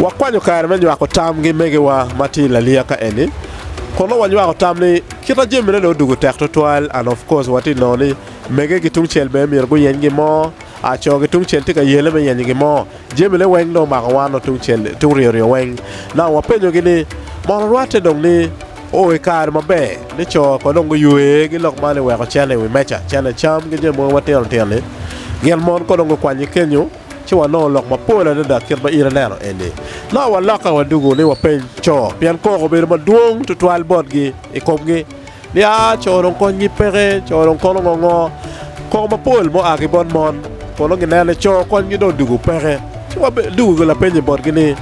Wakwanyo kare me nywako tam gi megiwa ma tye i laliya ka eni. Kono wanywako tam ni kit ma jamine dong odugo tek tutwal and of course watye nongo ni mege ki tungcel bene myero guyeny gi mo A Co ki tungcel tye ka yele me yenyo gin mo. Jamine weng dong omako wan o tungcel, tung ryo ryo weng. Nang wapenyogi ni, Mono rwatte dong ni o i kare maber ni co ko dong guywe gi lok man i weko cene i wi meca, cene cam ki jami mogo matino tino ni? Gin mon ko dong gukwanyi kenyo? Ci wanongo lok mapol adada kit ma in ineno eni. Nang walokke wadugu ni wapeny co, pien koko obedo madwong tutwal botgi i komgi. Nia, co dong konygi peke, co dong kono ngo ngo. Koko mapol mua ki bot mon, kun nongo ginen ni co konygi dong dwogo peke. Ci wadugo lapenyo botgi ni,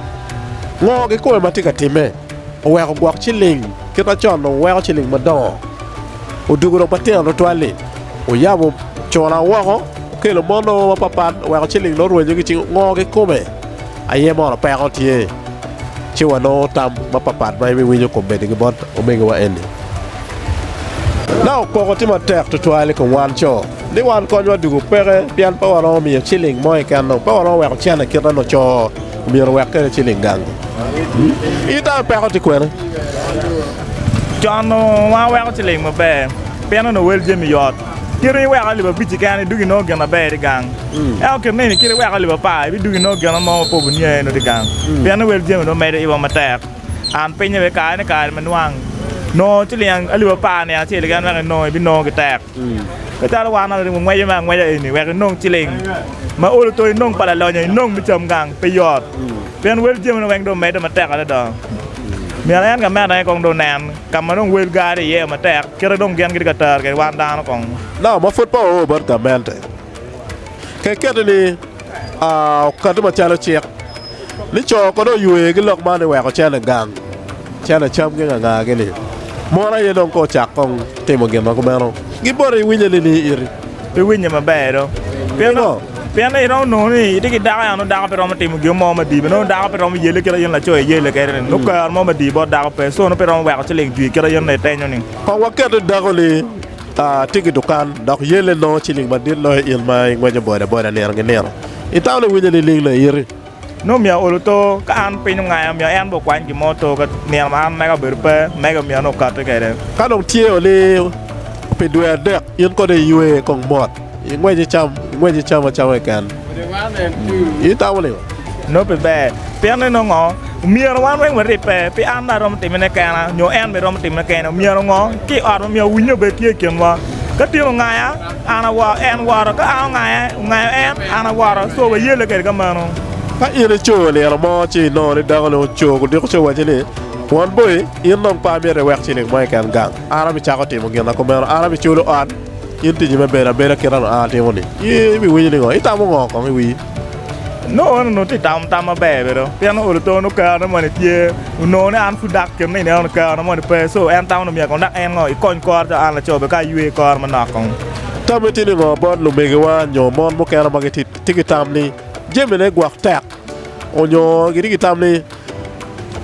Ngo gikome ma tye ka timme? Oweko gwok ciling kit ma con dong weko ciling madongo, odugo dong matino tutwal-li. Oyabo cula woko, okelo mon ongo mapapat, oweko ciling dong orwenyogi ci ngo gikome. Aye mono peko tye ci wanongo tam mapatpat ma ibiwinyo kop bedi ki bot omegiwa eni? Nao koko tye matek twatwal i kom wan co ni wan konywa dugo peke pien pe waromo miyo ciling mo keken dong pe waromo weko cene kit ma nongo co omyero owek kwede ciling gang. I tami peko tye kwene? Con nongo waweko ciling maber pien onongo wel jami yot. Kit ma iweko alip abic i keno idwogo inongo gin na ber tye gang, ento kit neni kit ma iweko alip apar ibidwogo inongo gin mo ma pe wubiniang iye nongo tye gang, pien ni wel jami dong medo iwa matek. An pinye bene kare ni kare ma nwang nongo ciliang alip apar niang acel keken wek inong ibinongo gitek. Ka calo wan ento ringo ngweco me angweca eni wek inong ciling ma olo to inong pa lalonyo inong me cam gang pe yot, pien wel jami dong weng dong medde matek adada. Myero en ka meno aye kong dong nen ka ma dong wel gar iye matek. Kite dong gen gitye ka tero kede wan dano kong. Nao ma pud pe oor bot gamente ke keti ni okati macalo cik ni co kone oywer gi lok man iweko cene gang cene cam gi nganga gi ni mon aye dong ko cak kong timo gin ma kumeno gi boti iwinye ni ni iti. Pe winye maber do. Pingo? Pien ni iromo nongo ni itye ki dako ya nongo dako pe romo timo gin mo madii bene nongo dako pe romo yelle kit ma in laco iyelle kwede-ni nongo kero mo madii bot dako pe so nongo pe iromo weko ciling jwi kit ma in itenyo-ni. Kong waket ni dako-ni tye ki dukan dok yelle nongo ciling madit loyo in ma ingweco bodaboda nino ki nino. Itamo ni iwinyo nining na iti? Nongo omyero aol oto, ka an piny ongaya, omyero en bene okwany gin mo oto ka nino ma an mega obedo pe, mega omyero nongo okatti kwede. Ka dong tye oliyo pi dwe adek, in kono iywe kong mot, ingwec icam, ingwec icam acama keken. Itamo ling? Nongo pe ber. Pien ni nongo omyero wan weng waribbe, pe an dong aromo timone kena, nyo en bene romo timone kene. Omyero ngo ki i ot omyero owinye obed tye i kinwa. Ka tin ongaya. An aworo, en woro, ka an ongaye, ongayo en, an aworo. So wayelle kede ka mano. Ka in ico liro mo ci inongo ni dako ni oco gudiko ci owaci ni, Won boi, in dong pe amito iwek ciling mo keken gang. An abicako timo gin ma kumeno. An abiculo ot, in tiji me bedo abeda kit anu an atimo ni. I, ibiwinyo ni ngo? Itamo ngo kong i wi? Nongo en onongo tye ka tamo tam maber bene dong pien nongo luto nongo kare moni tye onongo ni an pud dak i kin nino eno kare moni pe so en tamo ni myero dok en ngo ikony kore calo an laco bene ka aywe kore manok kong. Tammi tye ningo bot lumegiwa nyo mon mukene ma gitye ki tam ni jamine gwok tek onyo gitye ki tam ni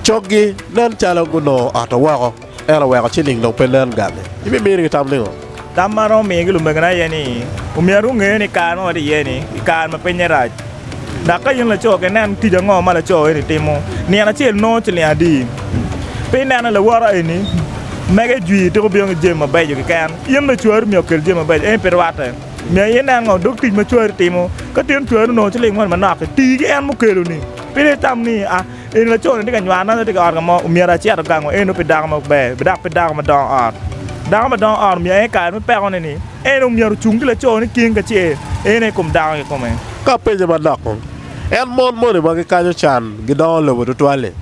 coggi nen calo gunongo oto woko? En oweko ci nining dong pe nen gali? Imimiri ki tam ningo? Tam ma aromo miyo ki lumegina aye ni, omyero gunge ni kare ma watye iye-ni i kare ma pinye rac. Dok ka in laco, ke nen tic ango ma laco eni timo. Nino acel nongo ciling adi? Pi ineno lawoto eni, mege jwir tika obino ki jami mabeco keken. In bene cwari omyero okel jami mabeco, ento pe rwatte. Myero aye inen ngo dog tic ma cwari timo. Ka tyen cwari onongo ciling moni manok-ki, ti ki en mukeloni. Pe dong itam ni, a. Eni laco-ni tye ka nywano nongo tye ka ot ka mo myero acit ogango eno pi dako ma ber dok pi dako ma dongo ot. Dako ma dongo ot myero en i kare me pekone ni en omyero ocung ki laco ni cing kacel en aye kom dako kikome. Ka apenye manok kong, en mon moni ma gikaco can gidongo lobo tutwal-li?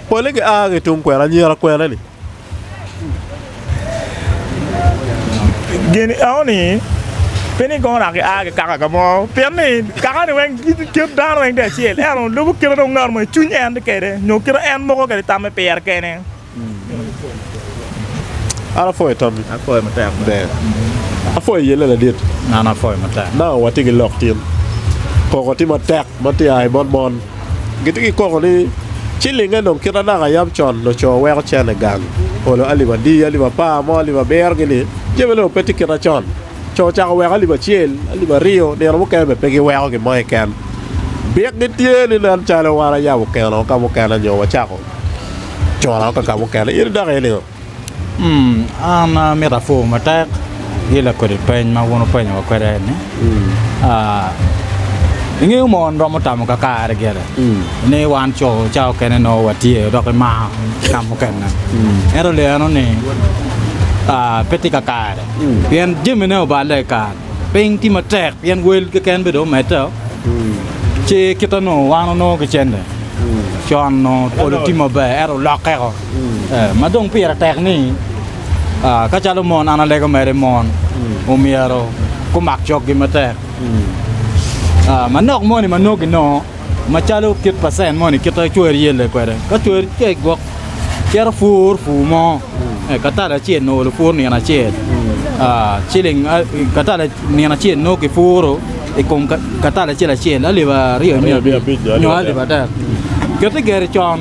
Pole gia ki tung kwena, anyira kwena-ni? Geni eoni pe ni kono naka gia ki kaka ka mo pien ni kakani weng kit dano weng tye acel ento lubo kite dong ngat mo i cwiny en tye kede nyo kite en moko kede i tamme pire kene. An apwoyo itop gi. Apwoyo matek bene. Ber. Apwoyo yelle ladit. An apwoyo matek. Nanga watye ki lok tin. Koko tye matek ma tye a i bot mon. Gitye ki koko ni, 'Cilinge dong kit ma naka yam con loco weko cene gang, olo alip adi, alip apar mo, alip abiro-gini, jammi-ni dong pe tye kit ma con. Co ocako weko alip acel, alip aryo, nino mukene bene pe giweko gin mo keken. Bikgi tye ni nen calo wan ayabo keno ka mukene nyo wacako cona ka mukene. In idok iye nigo? An amito apur matek ki lakodi peny ma wun wupenyo wa kwede eni. Ingeyo mon romo tamo kakare gire ni wan co ca okene nongo watye dok imaro ka mukene ento le eno ni pe tye kakare pien jamine oballe i kare, piny tye matek pien wel keken bene dong omedde o ci kit ma nongo wan onongo ki cente con nongo pol tye maber ento olokke o. ma dong pire tek ni ka calo mon an alego mere mon omyero gumak coggi matek. Manok moni ma nongo ginongo macalo kit pacent moni kit ma cwer yelle kwede ka cwer cek gwok cito pur pur mo katale acel nongo lupur nino acel ciling katale nino acel nongo kipuro i kom katale acel acel alip aryo nyo alip adek kit igeri con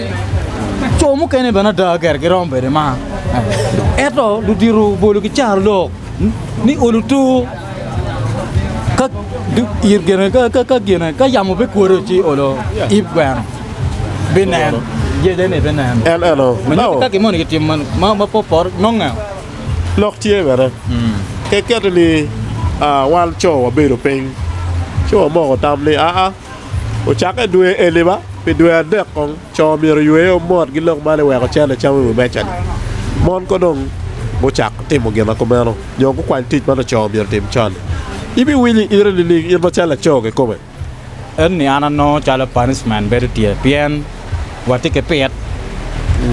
Co mukene bene ada gire giromo bedo mar, ento ludito bolo gicaro lok ni olo tur ka yamo bikwodo ci olo yib gweno binen. Lok tye bene keketto ni wan co wabedo piny ci wamoko tam ni aa. Ocakke dwe Eliba, pi dwe adek kong, co myero oywe o mot gilok malo i weko ocene cam i wi meca-ni. Mon ko dong gucak timo gina kumeno, nyo gukwany tic ma laco myero otim con-ni. Ibiwinyo i ite nining in macalo laco kikome? En ni an anongo calo punishment bedo tye pien. watye ki pit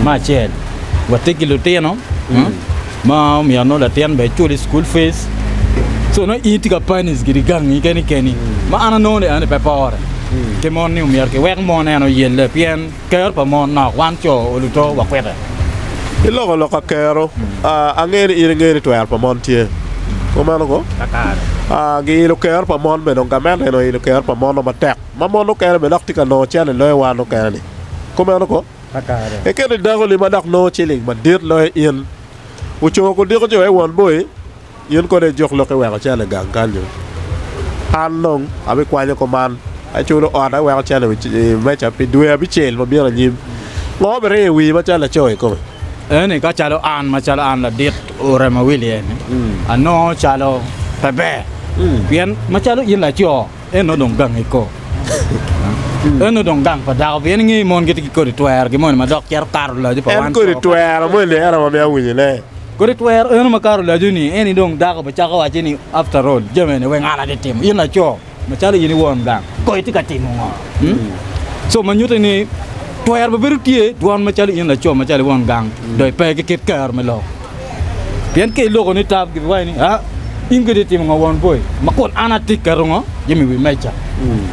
me acel watye ki lutino mm. ma omyero nongo latin bene ecul i school fees so nongo in tye ka panis gidi gangi keni keni mm. ma an anongo ni ane pe pore mm. ki mon ni omyero kiwek mon en oyelle pien kero pa mon nok wan co oluto wakwite iloko loka kero uh, angeni in ingeni twero pa mon tye kumeno ko uh, giilo kero pa mon bene gamente eno ilo kero pa mon matek Ma mon mukene bene dok tye ka nongo cente loyo wan mukene-ni. Kumeno ko? Ikine dakoni ma dok nongo ciling madit loyo in, ocungo kudiko jo i won boi, in kono ijuk lok iweko cente i gang kany dong. An dong abikwanyo kuman, aculo ot, aweko cente i wi meja pi dwe abicel ma bino anyim. Ngo ma biriyo i wii ma calo laco i kome? Eni ka calo an, macalo an ladit ure ma Willie-ni, anongo calo pe ber. Pien macalo in laco, En nongo dong gange koo. En nongo dong gang pa dako pien ingeyo mon gitye ki kodi twero ki moni madok cito kato laco pa wan. En kodi twero moni ni ento ma mea winyo ne. Kodi twero eno makato laco ni eni dong dako be cako waco ni after all jami eni weng an atye timo in laco macalo in iwon gang koo itye ka timo ngo so ma nyuti ni twero be bedo tye dwon macalo in laco macalo iwon gang do ipe ki kit kero me lok. Pien ka iloko ni tab, gibiwaco ni, a, in kede itimo nga won boi, ma kun an atye keto ngo jami i wi meja. Mm.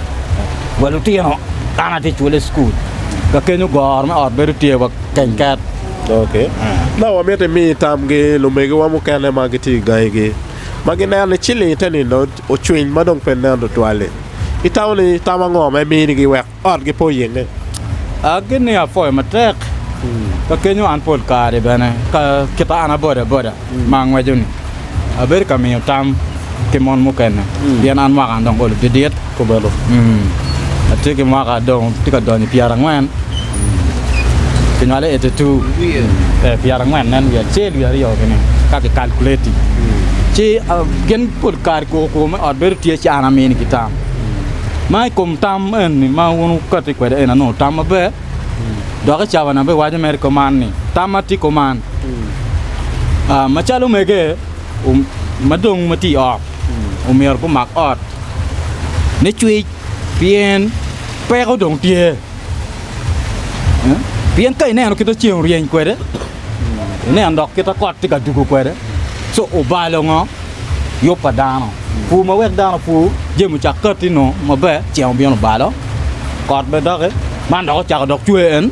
Wa lutino, an atye cwole i cukul. Ka kenyo goro me ot bedo tye wa keny mm. ket. Ok. Ma wamito imi tamgi lumegiwa mukene ma gitye i gangigi ma gineno ni ciling te nino ocwiny ma dong pe nen tutwal-li. Itamo ni tam ango ma iminigi wek ot gipe oyelle. Aggi ni apwoyo matek ka kenyo an pol kare bene ka kita an aboda boda ma angweco ni abedo ka miyo tam ki mon mukene pien an mwaka an dong olo didit kumalo atye ki mwaka dong tye ka donyo pyera angwen ki nywale eighty two ee pyera angwen nen wiye acel wiye aryo gini ka ki calculating ci gin pol kare koko koko me ot bedo tye ci an amini ki tam. Ma i kom tam eni ma wun wukati kwede en anongo tam maber, dok i cabana bene waco mere i kom man ni, tam ma tye i kom man. Ah, macalo omege om- ma dong ma tye i ot, omyero gumak ot me cwec pien peko dong tye. Eh? Pien ka ineno kita ceng oryeny kwede, ineno dok kita kot tye ka dugo kwede, so obalo ngo? yub pa dano. Pur ma wek dano pur, jami ocak katti nongo maber, ceng obino balo, kot bene doki, man dok ocako dok cwer en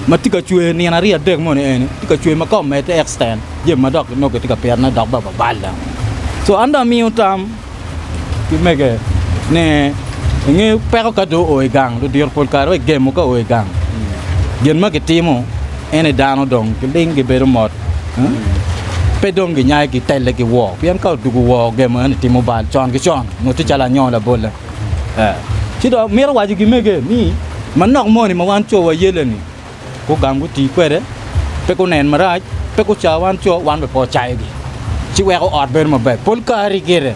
ma tye ka cwer nino aryo adek moni eni, tye ka cwer ma ka omedde extend jami ma dok nongo kitye ka pitone dok bene babal dok. So an dong amiyo tam ki mege ni inge peko ka dong oo i gang, ludito pol kare wai gemo ka oo i gang, gin ma gitimo ene dano dong giling gibedo mot. pe dong ginyaye gitelle ki woo, pien ka odwogo woo gemo eno timo bal con ki con, ngut tye calo anyoo labolle. Ci dong mito waco gimege ni manok moni ma wan co wayelle-ni gugam guti kwede, pe gunen marac, pe guca wan co, wan bene pe wacayogi, ci weko ot bedo maber. Pol kare gire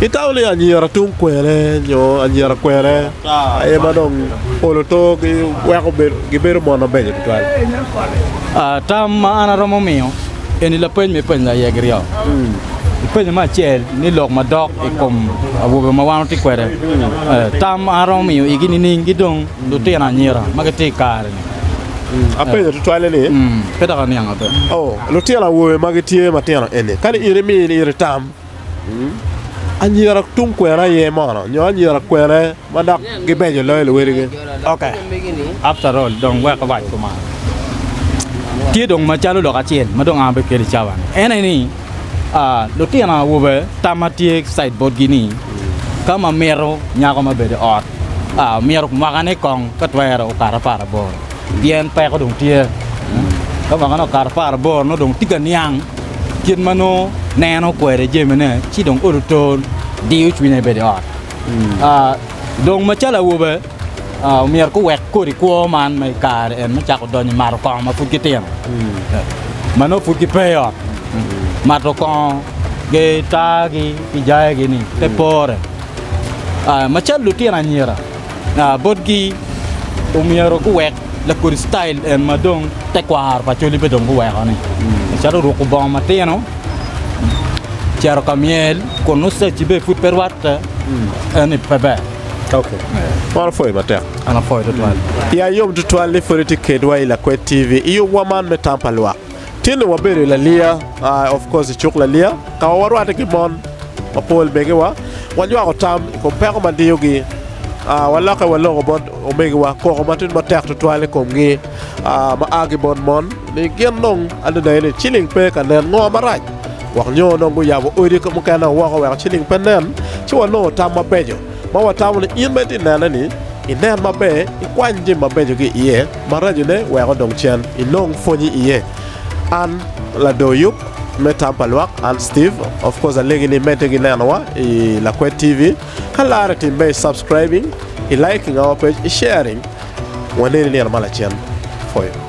Kikawo ni anyira tung kwene nyo anyira kwene aye ma dong olo togi weko gibedo mon mabeco tutwal? Tam ma an aromo miyo eni lapeny ma ipenyo aye giryo. Ipenyo me acel ni lok madok i kom awobe ma wan watye kwede. Tam ma an aromo miyo igi nining ki dong lutino anyira ma gitye i kare-ni? Apenyo tutwali ni, lutino awobe ma gitye matino eni, kadi in imi in iri tam, Anyira tung kwena aye mono nyo anyira kwene ma dok gibeco loyo luwadigi? Tye dong macalo lok acel ma dong an abedo kwede i cawa-ni, en aye ni lutino awobe tam ma tye ki cit botgi ni ka ma mito nyako ma obedo i ot myero mwakane kong ka twero okato apar aboro. Pien peko dong tye. Ka mwaka nongo okato apar aboro nongo dong tye ka niang kit ma nongo neno kwede jamine ci dong olo tol diyo cwinye ni bedo i ot. Dong macalo awobe myero guwek kodi kwo man ma i kare eni me cako donyo i mato kongo ma pud gitino ma nongo pud gipe i ot. Mato kongo gitargi ki jayagi-ni pe pore macalo lutino anyira. botgi omyero guwek lakodi citail en ma dong tekwaro pa col-li pe dong guweko-ni calo ruko bongo matino, cito ka myel kun nongo cacci bene pud pe rwatte, en-ni pe ber. Man opwoyo matek. An apwoyo tutwal. Ya yom tutwal ni pwod itye kedwa i Lakwed TV i yubwa man me tam pa lwak. Tinni wabedo i Laliya, of course i cuk Laliya, ka ma warwatte ki mon mapol megiwa. Wanywako tam i kom peko ma diyogi. Walokke waloko bot omegiwa koko matidi matek tutwal i komgi ma a ki bot mon ni gin dong adada aye ni ciling pe ka nen ngo marac wek nyo dong guyabo odi mukene woko wek ciling pe nen. Ci wanongo tam mabeco ma watamo ni in ma itye ka nenne-ni, inen maber, ikwany jami mabeco ki iye. Maracone weko dong cen inong pwonyi iye. An lador yub me tam pa lwak, an Steve. Of course alegi ni imedde gi nenowa i Lakwed TV. Ka larre tim be i subscribing, i liking our page, i sharing. Waneni nino ma lacen. Pwoyo.